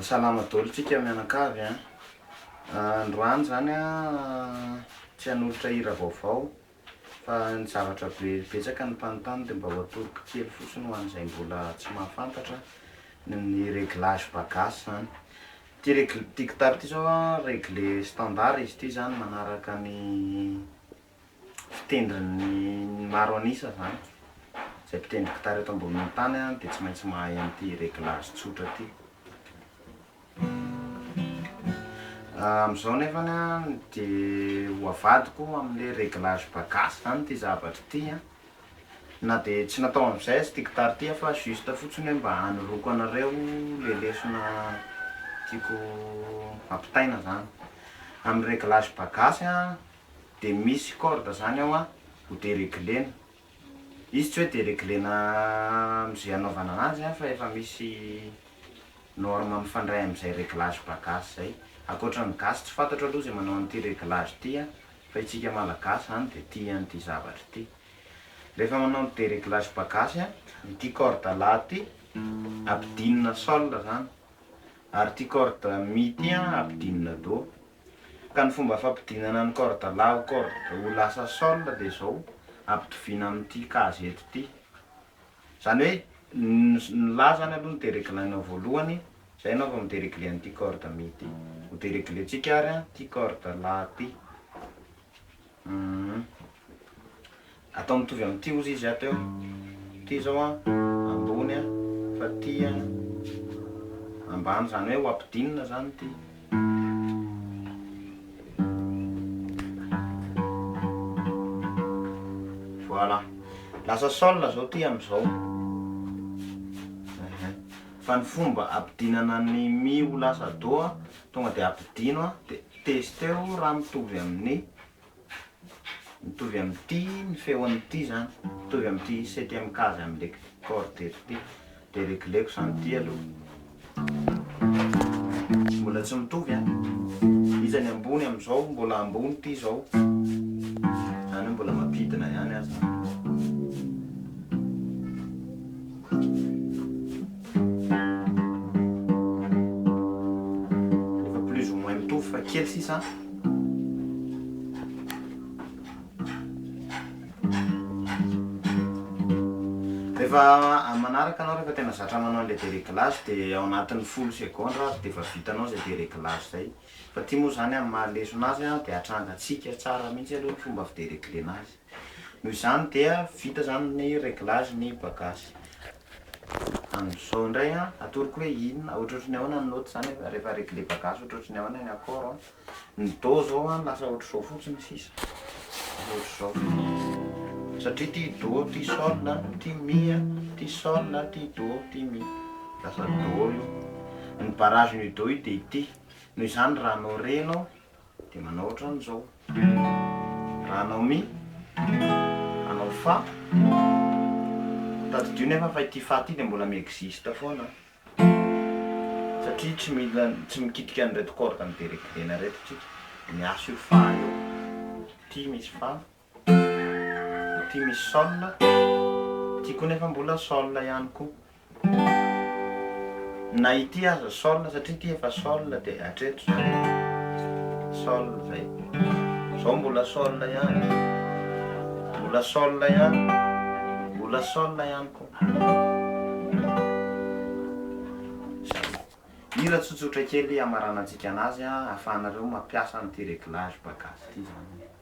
Salama dolo tsika mianakavy an! Androany zany an tsy hanolotra hira vaovao fa ny zavatra be betsaka ny mpanontany de mba ho atoroko kely fotsiny ho an'izay mbola tsy mahafantatra ny reglage bagas zany ty reg- ty gitara ty zao an regle standard izy ty zany manaraka ny mpitendrin'ny maro an'isa zany, zay mpitendry gitara eto ambonin'ny tany dia tsy maintsy mahay an'ity réglage tsotra ity. Amin'izao nefany dia ho avadiko amin'ilay réglage bagasy zany ity zavatra ity an! na dia tsy natao an'izay aza ity gitara ity fa juste fotsiny hoe mba hanoroako anareo ilay lesona tiako hampitaina zany. Amin'ny réglage bagasy an! dia misy corde zany ao an, ho dereglena, izy tsy hoe dereglena amzay anaovana anazy an fa efa misy norme mifandray amzay reglage ba gasy zay, akoatra ny gasy tsy fantatro aloha zay manao an'ity reglage ity an, fa itsika malagasy zany dia tia an'ity zavatra ity, rehefa manao ny dereglage ba gasy an, ity corde la ity ampidinina sol zany, ary ity corde mi ity an ampidinina do, Ka ny fomba fampidinana ny corde la ho corde ho lasa sol dia izao, ampitoviana amin'ity case eto ity. Izany hoe ny la izany aloha no dereglainao voalohany, izay ianao vao mi-deregle an'ity corde mi ity. Ho dereglentsika ary an ity corde la ity. Atao mitovy amin'ity ozy izy ato eo. Ity izao an, ambony an, fa ity an, ambany, izany hoe ho ampidinina izany ity. Voilà. Lasa sol izao ity amin'izao. Fa ny fomba ampidinana ny mi ho lasa do, tonga dia ampidino dia testeo raha mitovy amin'ny. mitovy amin'ity ny feon'ity izany, mitovy amin'ity septième case amin'ilay corde eto ity, dia regleko izany ity aloha, mbola tsy mitovy an, iza ny ambony amin'izao, mbola ambony ity izao, izany hoe mbola mampidina ihany aza. Efa plus ou moins mitovy fa kely sisa an. Rehefa amin'ny manaraka anao rehefa tena zatra manao an'ilay dereglage dia ao anatin'ny folo segondra ary dia efa vitanao izay dereglage izay. Fa ity moa izany amin'ny maha lesona azy an dia atrangantsika tsara mihitsy aloha ny fomba fidereglena azy. Noho izany dia vita izany ny reglage ny bagasy. Amin'izao indray an, atoroko hoe inona, ohatrohatry ny ahoana ny note izany rehefa regleba gasy, ohatrohatry ny ahoana ny accord an, ny do izao an lasa ohatr'izao fotsiny sisa, lasa ohatr'izao fotsiny, satria ity do, ity sol an, ity mi an, ity sol an, ity do, ity mi, lasa do io, ny barrage-n'io do io dia ity, noho izany raha anao re ianao, dia manao ohatran'izao. Raha hanao mi, hanao fa. Tadidio nefa fa ity fa ity dia mbola mi-existe foana satria tsy mila, tsy mikitika an'ireto corde mideregirena ireto tsika. Miasa io fa io. Ity misy fa. Ity misy sol, ity koa nefa mbola sol ihany koa. Na ity aza sol satria ity efa sol dia hatreto izany. Sol izay. Izao mbola sol ihany. Mbola sol ihany. Mbola sol ihany koa. Hira tsotsotra kely hamaranantsika anazy ahafahanareo mampiasa an'ity réglage bagazy ity izany.